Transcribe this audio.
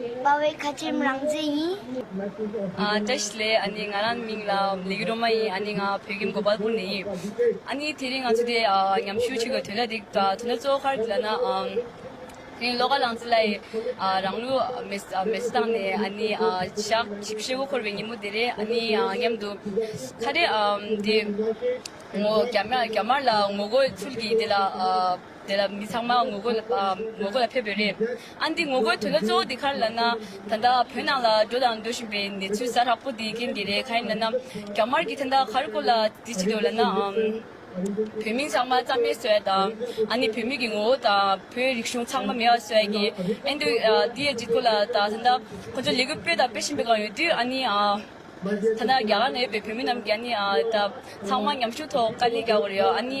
དཔའ་བོའི་ཁ་ཆེམས་རང་བཙན་ཡིན། ཏཱ་ཞི་ལེ་ཨ་ནི་ང་རང་མིང་ལ་ལི་ཀི་རོ་མ་ཡིན་ཨ་ནི་ང་བོད་ཁྱིམ་མགོ་པར་བུར་ནས་ཡིན། ཨ་ནི་དེ་རིང་ང་ཚོ་དེ་ཉམས་ཞུ་བྱེད་དགོས་དོན་ལ་དེ་དོན་གཙོ་བོ་ཁར་དེ་ལ་ན། དེ་རིང་ལོ་ཀ་ལང་ཙི་ལ་ཡི་རང་ལུས་མེ་བསད་བཏང་ནས་ཨ་ནི་ཞག་བཞི་བཞི་དགུ་འཁོར་བའི་ཉིན་མོ་དེ་རེད་ཨ་ནི་སྙམ་དུ། ཁ་རེད་དེ། རྒྱ་དམར་ལ་ངོ་རྒོལ་ཚུལ་གྱིས་དེ་ལ། དེ་ལ་མི་ཚང་མ་ངོ་རྒོལ་ལ་ངོ་རྒོལ་ལ་ཕེབས་པས་རེད། ཨ་འདི་ངོ་རྒོལ་དོན་དག་གཙོ་བོ་འདི་གར་ལ་ན། ད་ལྟ་བོད་ནང་ལ་འགྲོ་དང་འགྲོ་བཞིན་པའི་གནས་ཚུལ་ཟ་ཧྲག་པོ་འདིའི་རྐྱེན་གྱིས་རེད་ག་ཡིན་ལ་ན། རྒྱ་དམར་གྱིས་དེ་འདྲ་གར་བཀོལ་ལ་འདི་ཅི་འདོད་ལ་ན། བོད་མི་ཚང་མ་རྩ་མེད་བཟོས་དང། ཨ་ནི་བོད་མི་གི་ངོ་བོ་དང་བོད་རིག་གཞུང་ཚང་མ་མེད་བ་བཟོས་ཀྱི་ཨེ་འདུག་འདི་ཡི་འཇིགས་སྐུལ་ལ་ད་ད་ལྟ་ཁོ་ཚོས་ལས་འགུལ་སྤེལ་དང་སྤེལ་བཞིན་པའི་སྒང་ཡོད་དུས་ཨ་ནི། ད་ལྟ་རྒྱ་གར་ན་ཡོད་པའི་བོད་མི་རྣམས་ཀྱིས་ཨ་ནི་ད་ཚང་མ་མཉམ་ཞུགས་ཐོག་དཀའ་ལས་རྒྱག་དགོས་རེད་ཨ་ནི།